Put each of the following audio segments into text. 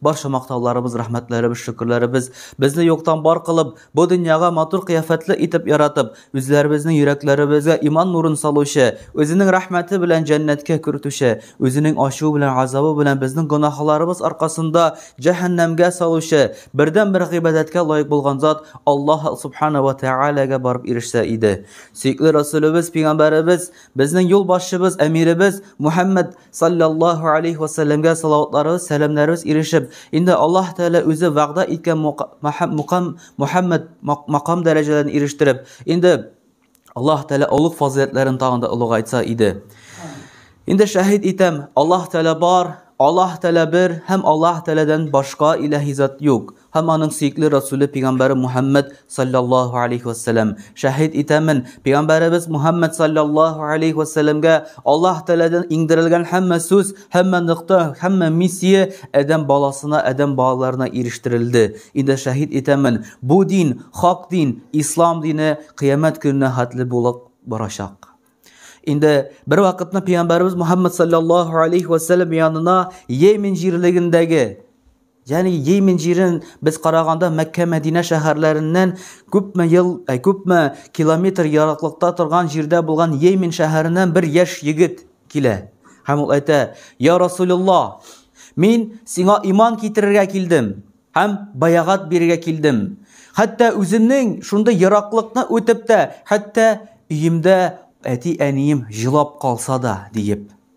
Барша мактауларыбыз, рәхмәтләребез, шөкерләребез безне юктан бар кылып, бу дөньяга матур кыяфәтле итеп яратып, үзләребезнең йөрәкләребезгә иман нурын салучы, үзенең рәхмәте белән җәннәткә кертүче, үзенең ачуы белән газабы белән безнең гөнаһларыбыз аркасында җәһәннәмгә салучы, бердәнбер гыйбадәткә лаек булган зат Аллаһ субхана ва тәгаләгә барып ирешсә иде. Сөекле Расулебез, пигамбәребез, безнең юлбашчыбыз, әмиребез Мухәммәд саллаллаху алейхи вассәләмгә салаватларыбыз, сәламнәребез ирешеп, инде Аллаһ Тәгалә үзе вәгъдә иткән мукам Мухаммад макам дәрәҗәләрен ирештереп, инде Аллаһ Тәгалә олуг фазыйләтләрен тагын да олыгайтса иде. Инде шәһид итәм, Аллаһ Тәгалә бар, Аллаһ Тәгалә бер һәм Аллаһ Тәгаләдән башка илаһи зат юк. Һәм аның сөекле Расүле пигамбәре Мухәммәд салләллаһу алейһи вә сәләм, Шәһит итәмен, пигамбәребез Мухәммәд салләллаһу алейһи вә сәләмгә Аллаһ Тәгаләдән иңдерелгән һәммә сүз, һәммә нокта, һәммә миссия адәм баласына, адәм балаларына ирештерелде. Инде шәһит итәмен, бу дин, хак дин, ислам дине кыямәт көненә хәтле булып барачак. Инде бервакытны пигамбәребез Мухәммәд салләллаһу алейһи вә сәләм янына Йемен җирлегендәге, Ягъни Йемен җирен без караганда Мәккә-Мәдинә шәһәрләреннән күпме ел, ә э, күпме километр яраклыкта торган җирдә булган Йемен шәһәреннән бер яшь егет килә. Һәм ул әйтә: "Я Расулулла, мин сиңа иман китерергә килдем һәм баягат бирергә килдем. Хәтта үземнең шундый яраклыкны үтеп тә, хәтта өемдә әти-әнием җылап калса да", диеп.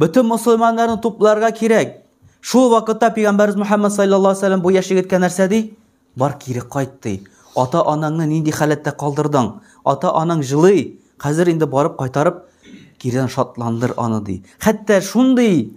Бөтен мусульманнарны тупларга кирәк. Шул вакытта пигамбарыбыз Мөхәммәд саллаллаһу алейһи вәсәлләм бу яшь егеткә нәрсә ди? Бар кире кайт ди. Ата анаңны нинди халәттә калдырдың? Ата анаң җылый. Хәзер инде барып кайтарып кирдән шатландыр аны ди. Хәтта шундый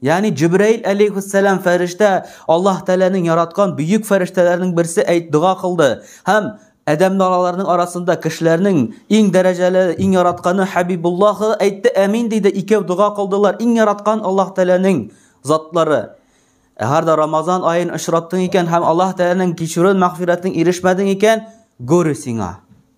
Ягъни Җибраил алейхиссалам фәрештә Аллаһ Тәгаләнең яраткан бөек фәрештәләренең берсе әйт дога кылды һәм Адәм налаларның арасында кешеләрнең иң дәрәҗәле, иң яратканы Хәбибуллаһы әйтте, әмин диде, икәү дога кылдылар, иң яраткан Аллаһ Тәгаләнең затлары. Әгәр дә Рамазан аен очраттың икән һәм Аллаһ Тәгаләнең кичүрен, мәгъфирәтен ирешмәдең икән, горе сиңа.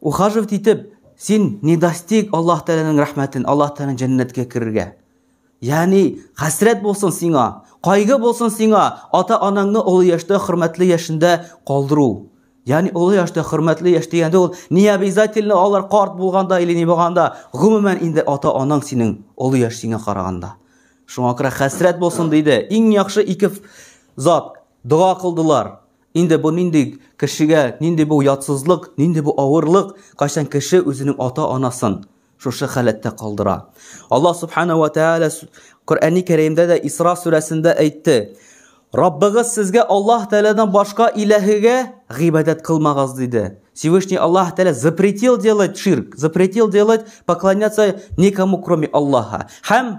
Ухаживать итеп, син не достиг Аллаһ Тәгаләнең рәхмәтен, Аллаһ Тәгаләнең җәннәткә керергә. Ягъни, хәсрәт булсын сиңа, кайгы булсын сиңа, ата-анаңны олы яшьтә, хөрмәтле яшендә калдыру. Ягъни, олы яшьтә, хөрмәтле яшь дигәндә ул не обязательно алар карт булганда или не булганда, гомумән инде ата-анаң синең олы яшь сиңа караганда. Шуңа күрә хәсрәт булсын диде. Иң яхшы ике зат дога кылдылар. Инде бу нинди кешегә, нинди бу ятсызлык, нинди бу авырлык, кайчан кеше үзенең ата-анасын шушы халәттә калдыра. Аллаһ Субхана ва Тәгалә Коръәни Кәримдә дә Исра сүрәсендә әйтте. Раббыгыз сезгә Аллаһ Тәгаләдән башка иләһегә гыйбадәт кылмагыз диде. Всевышний Аллаһ Тәгалә запретил делать ширк, запретил делать поклоняться никому кроме Аллаһа. Һәм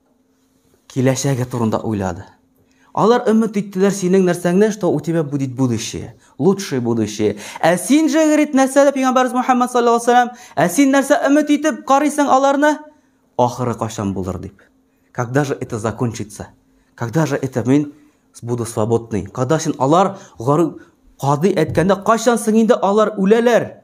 Киләчәге турында уйлады. Алар өмет иттеләр синең нәрсәңне, что у тебя будет будущее, лучшее будущее. Ә син же, говорит, нәрсә дә пигамбәрбез Мухаммад саллаллаху алейхи вассалам, ә син нәрсә өмет итеп карыйсың аларны? Ахыры кашан булыр дип. Когда же это закончится? Когда же это мин буду свободный? Когда син алар гары кады әткәндә кашан соң инде алар үләләр?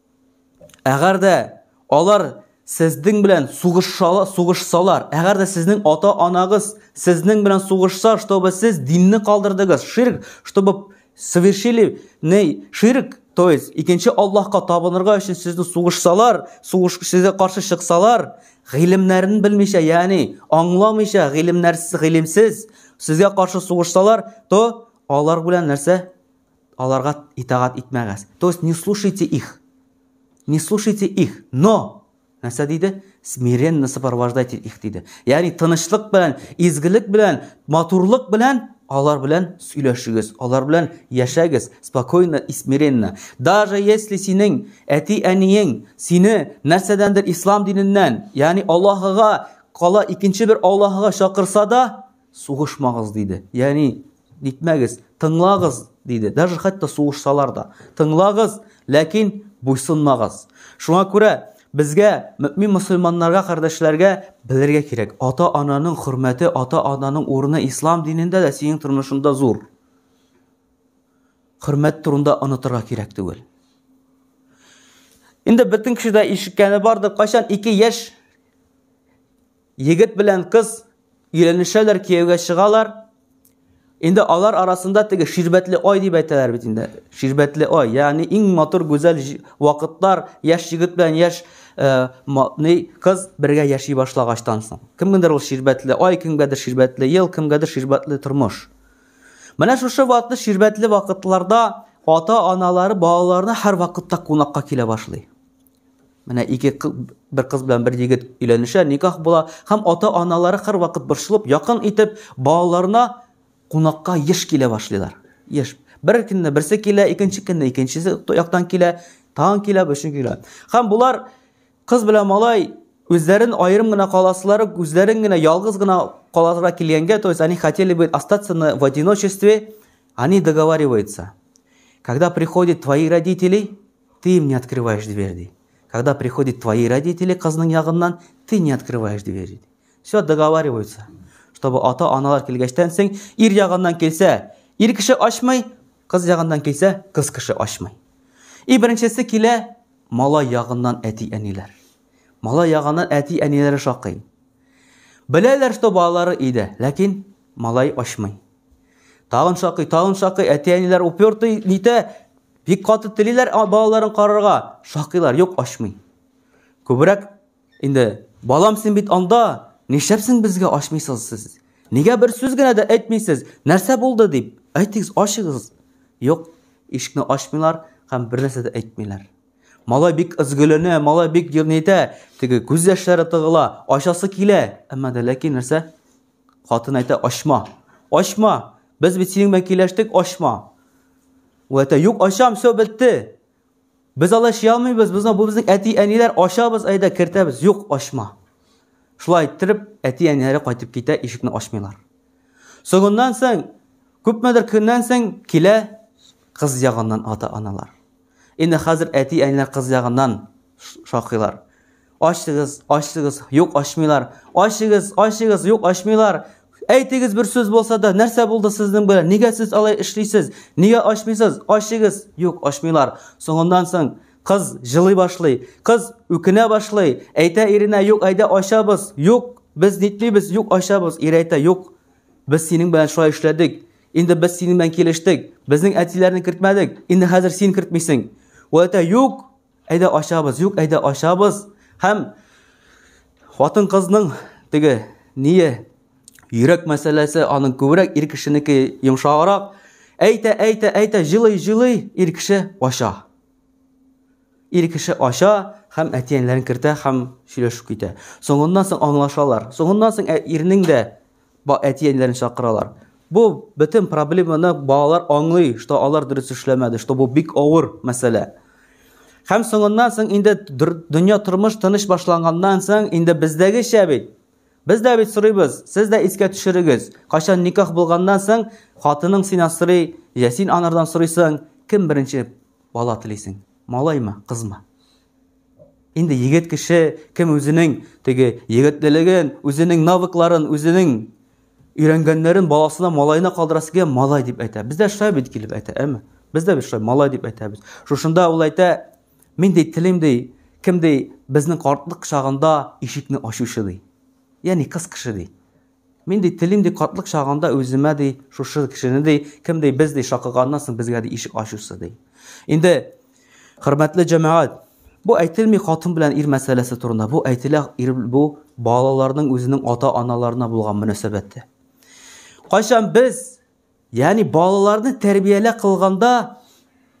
Әгәр дә алар сезнең белән сугышсалар, сугышсалар, әгәр дә сезнең ата-анагыз сезнең белән сугышса, чтобы сез динне калдырдыгыз, ширк, чтобы совершили ней ширк, то есть икенче Аллаһка табынырга өчен сезне сугышсалар, сугыш сезгә каршы чыксалар, гыйлемнәрен белмичә, ягъни аңламыйча, гыйлемнәрсез, гыйлемсез сезгә каршы сугышсалар, то алар белән нәрсә? Аларга итагать итмәгез. То есть не слушайте их. Не слушайте их. Но! Нәрсә диде? Смиренно сопровождайте их диде. Ягъни тынычлык белән, изгелек белән, матурлык белән алар белән сөйләшегез, алар белән яшәгез, спокойно и смиренно. Даже если синең әти-әниең сине нәрсәдәндер ислам диненнән, ягъни Аллаһыга, кала икенче бер Аллаһыга чакырса да, Сугышмагыз диде. Ягъни, нитмәгез, тыңлагыз диде. Даже хәтта сугышсалар да. Тыңлагыз, ләкин буйсынмагыз. Шуңа күрә безгә, мөмин мусульманнарга, кардәшләргә белергә кирәк. Ата-ананың хөрмәте, ата-ананың урыны ислам динендә дә, синең тормышында зур. Хөрмәт турында онытырга кирәк түгел. Инде бөтен кеше дә ишеткәне бардыр, кайчан ике яшь Егет белән кыз өйләнешәләр, кияүгә чыгалар. Инде алар арасында теге ширбәтле ай дип әйтәләр бит инде. Ширбәтле ай, ягъни иң матур гүзәл вакытлар, яшь егет белән яшь э, ни кыз бергә яши башлагачтан соң. Кемгәдер ул ширбәтле ай, кемгәдер ширбәтле ел, кемгәдер ширбәтле тормыш. Менә шушы вакытлы ширбәтле вакытларда ата-аналары балаларына һәр вакытта кунакка килә башлый. Менә ике бер кыз белән бер егет өйләнешә, никах була һәм ата-аналары һәрвакыт борчылып, якын итеп балаларына кунакка еш килә башлыйлар. Еш. Бер көнне берсе килә, икенче көнне икенчесе яктан килә, тагын килә, өченче килә. Һәм болар кыз белән малай үзләрен аерым гына каласылары, үзләрен генә ялгыз гына каласыга килгәнгә, то есть они хотели бы остаться в одиночестве, они договариваются. Когда приходят твои родители, Ты им не открываешь дверь, ди. Когда приходят твои родители кызның ягыннан, ты не открываешь дверь, ди. Все, договариваются. Чтобы ата-аналар килгәчтән соң, ир ягыннан килсә, ир кеше ачмый, кыз ягыннан килсә, кыз кеше ачмый. И беренчесе килә, малай ягыннан әти-әниләр. Малай ягыннан әти-әниләре шакый. Беләләр, что балалары өйдә, ләкин малай ачмый. Тагын шакый, тагын шакый, әти-әниләр упертый, нитә, Бик каты телиләр балаларын карарга, шакыйлар, юк ачмый. Күбрәк инде балам син бит анда, нишләпсең безгә ачмыйсыз сез? Нигә бер сүз генә дә әйтмисез? Нәрсә булды дип? Әйтегез, ачыгыз. Юк, ишекне ачмыйлар һәм бер нәрсә дә әйтмиләр. Малай бик ызгөленә, малай бик җирнәйтә, теге күз яшьләре тыгыла, ачасы килә, әмма дә ләкин нәрсә? Хатын әйтә, ачма, ачма, без бит синең белән киләштек, ачма. Ул әйтә, юк, ачам, все, бетте. Без алай эшли алмыйбыз, без бу безнең әти-әниләр, ачабыз, әйдә, кертәбез, юк, ачма. Шулай иттереп, әти-әниләре кайтып китә, ишекне ачмыйлар. Соңыннан соң, күпмедер көннән соң килә кыз ягыннан ата-аналар. Инде хәзер әти-әниләр кыз ягыннан шакыйлар. Ачыгыз, ачыгыз, юк ачмыйлар. Ачыгыз, ачыгыз, юк ачмыйлар. Әйтегез бер сүз булса да, нәрсә булды сезнең белән? Нигә сез алай эшлисез? Нигә ачмыйсыз? Ачыгыз. Юк, ачмыйлар. Соңыннан соң кыз җылый башлый. Кыз үкенә башлый. Әйтә иренә, юк, әйдә ачабыз. Юк, без нитмибез, юк, ачабыз. Ир әйтә, юк, без синең белән шулай эшләдек. Инде без синең белән килештек. Безнең әтиләрне кертмәдек. Инде хәзер син кертмисең. Ул әйтә, юк, әйдә ачабыз, юк, әйдә ачабыз. Һәм хатын кызның теге ние йөрәк мәсьәләсе аның күбрәк ир кешенеке йомшаграк. Әйтә, әйтә, әйтә, җылый, җылый, ир кеше ача. Ир кеше ача һәм әтиәнләрен кертә һәм сөйләшү китә. Соңыннан соң аңлашалар. Соңыннан соң ә ирнең дә әти-әниләрен чакыралар. Бу бөтен проблеманы балалар аңлый, что алар дөрес эшләмәде, что бу бик авыр мәсьәлә. Һәм соңыннан соң инде дөнья тормыш тыныч башланганнан соң инде бездәгечә бит. Без дә бит сорыйбыз, сез дә искә төшерегез. Кайчан никах булганнан соң хатының син асрый, я син анардан сорыйсың, кем беренче бала телисең? Малаймы, кызмы? Инде егет кеше кем үзенең теге егетлелеген, үзенең навыкларын, үзенең өйрәнгәннәрен баласына, малаена калдырасы килгән малай дип әйтә. Бездә шулай бит килеп әйтә, әме. Бездә бит шулай малай дип әйтәбез. Шушында ул әйтә, мин ди телим ди, кем ди безнең картлык чагында ишекне ачучы ди. Ягъни кыз кеше ди. Мин, ди, телим, ди, картлык чагында үземә, ди, шушы кешене, ди, кем, ди, без, ди, шакыганнан соң безгә, ди, ишек ачусы, ди. Инде, хөрмәтле җәмәгать, Бу әйтелми хатын белән ир мәсьәләсе турында. Бу әйтелә ир бу балаларның үзенең ата-аналарына булган мөнәсәбәте. Кайчан без, ягъни балаларны тәрбиялә кылганда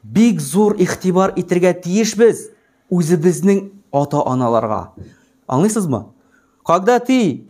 бик зур игътибар итергә тиешбез үзебезнең ата-аналарга. Аңлыйсызмы? Когда ты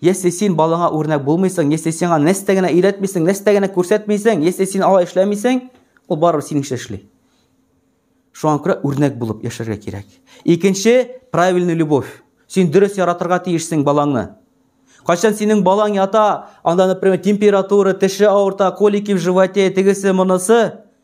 Если син балаңа үрнәк булмыйсың, если сиңа нәрсә генә өйрәтмисең, нәрсә генә күрсәтмисең, если син алай эшләмисең, ул барыбер синеңчә эшли. Шуңа күрә үрнәк булып яшәргә кирәк. Икенче, правильный любовь. Син дөрес яратырга тиешсең балаңны. Кайчан синең балаң ята, анда, например, температура, теше авырта, колики в животе, тегесе, монысы,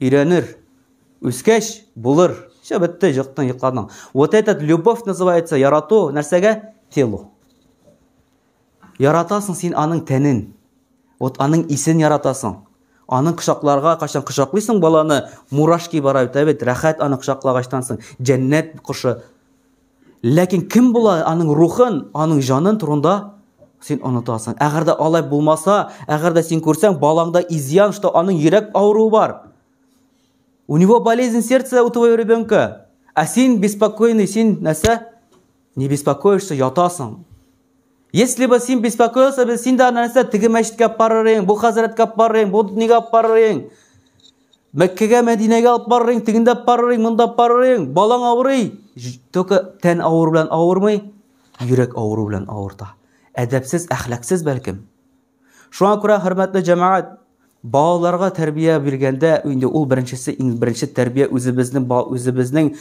Өйрәнер. Үскәч, булыр. Все, бетте, җыктың, йокладың. Вот этот любовь называется ярату, нәрсәгә? Телу. Яратасың син аның тәнен. Вот аның исен яратасың. Аның кочакларга качан кочаклыйсың баланы, мурашки бара бит, ә бит рәхәт аны кочаклагачтан соң, җәннәт кошы. Ләкин кем була аның рухын, аның җанын турында син онытасың. Әгәр дә алай булмаса, әгәр дә син күрсәң, балаңда изян, что аның йөрәк авыруы бар. У него болезнь сердца у твоего ребенка. А син беспокойный, син нәрсә? Не беспокоишься, ятасың. Если бы син беспокоился, без син дә нәрсә, теге мәчеткә барыр идең, бу хәзрәткә барыр идең, бу дөньяга барыр идең. Мәккәгә, Мәдинәгә алып барырың, тегендә барырың, монда барырың, балаң авырый. Только тән авыр белән авырмый, йөрәк авыру белән авырта. Әдәпсез, әхлаксыз бәлкем. Шуңа күрә хөрмәтле җәмәгать, балаларга тәрбия биргәндә, инде ул беренчесе, иң беренче тәрбия үзебезнең үзебезнең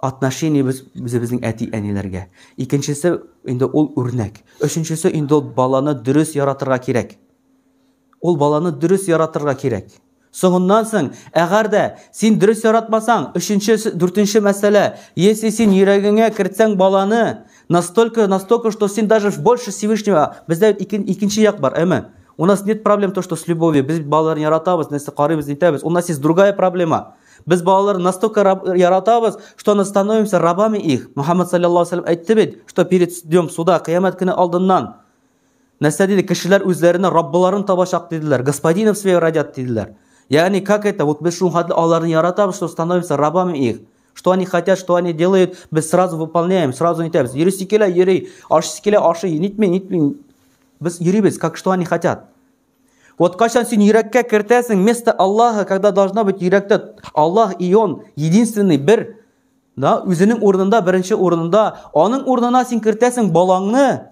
отношениебез үзебезнең әти-әниләргә. Икенчесе инде ул үрнәк. Өченчесе инде ул баланы дөрес яратырга кирәк. Ул баланы дөрес яратырга кирәк. Соңыннан соң, әгәр дә син дөрес яратмасаң, өченче, дүртенче мәсьәлә, если син йөрәгеңә кертсәң баланы, настолько, настолько, что син даже больше Всевышнего, бездә икенче икен, як бар, әме. У нас нет проблем то, что с любовью, без балаларны яратабыз, нәрсә карыйбыз, нитәбез. У нас есть другая проблема. Без балаларны настолько яратабыз, что мы становимся рабами их. Мухаммад саллаллаху алейхи ва саллям әйтте бит, что перед днем суда, кыямәт көне алдыннан, Нәрсә диде? Кешеләр үзләренә Раббыларын табачак диделәр. Господинов свое родят диделәр. Ягъни, как это? Вот без шул хәтле аларны яратабыз, что становимся рабами их. Что они хотят, что они делают, без сразу выполняем, сразу нитәбез. Йөрисе килә, йөри, ашыйсы килә, ашый, нитми, нитми. Без йөрибез, как что они хотят. Вот качан син йөрәккә кертәсең, вместо Аллаха, когда должна быть йөрәктә Аллах и Он, единственный бер, да, үзенең урынында, беренче урынында, аның урынына син кертәсең балаңны,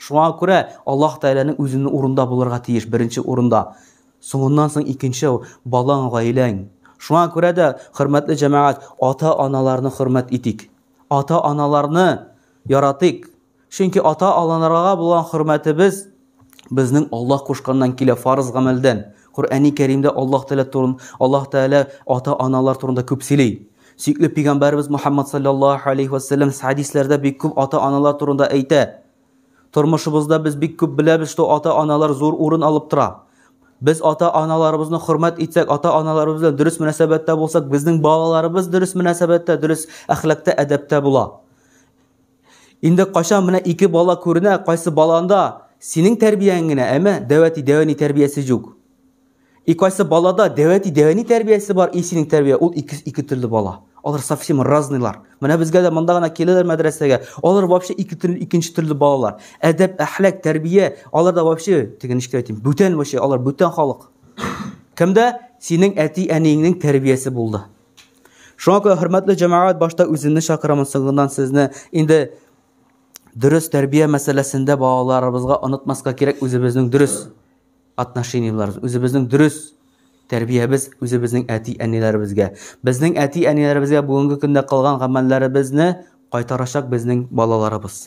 Шуңа күрә Аллаһ Тәгаләнең үзенең урында булырга тиеш, беренче урында. Соңыннан соң икенче, балаң, гаиләң. Шуңа күрә дә, хөрмәтле җәмәгать, ата-аналарны хөрмәт итик. Ата-аналарны яратыйк. Чөнки ата-аланарага булган хөрмәтебез безнең Аллаһ кушканнан килә, фарыз гамәлдән. Коръәни Кәримдә Аллаһ Тәгалә турын, Аллаһ Тәгалә ата-аналар турында күп сөйли. Сөйкле пигамбәрбез Мухаммад саллаллаһу алейхи ва саллям хадисләрдә бик күп ата-аналар турында әйтә. Тормышыбызда без бик күп беләбез, что ата-аналар зур урын алып тора. Без ата-аналарыбызны хөрмәт итсәк, ата-аналарыбыз белән дөрес мөнәсәбәттә булсак, безнең балаларыбыз дөрес мөнәсәбәттә, дөрес әхлакта, әдәптә була. Инде кайчан менә ике бала күренә, кайсы баланда синең тәрбияң генә, әмма дәвәти дәвәни тәрбиясе юк. И кайсы балада дәвәти дәвәни тәрбиясе бар, и синең тәрбия, ул ике, ике төрле бала. Алар совсем разныйлар. Менә безгә дә монда гына киләләр мәдрәсәгә. Алар вообще ике төрле, икенче төрле балалар. Әдәп, әхлак, тәрбия, алар да вообще, теге ничек әйтим, бүтән вообще, алар бүтән халык. Кемдә? Синең әти әниеңнең тәрбиясе булды. Шуңа күрә хөрмәтле җәмәгать башта үземне чакырамын, соңыннан сезне инде дөрес тәрбия мәсьәләсендә балаларыбызга онытмаска кирәк үзебезнең дөрес отношениеларыбыз, үзебезнең дөрес тәрбиябез үзебезнең әти-әниләребезгә. Безнең әти-әниләребезгә бүгенге көндә кылган гамәлләребезне кайтарачак безнең балаларыбыз.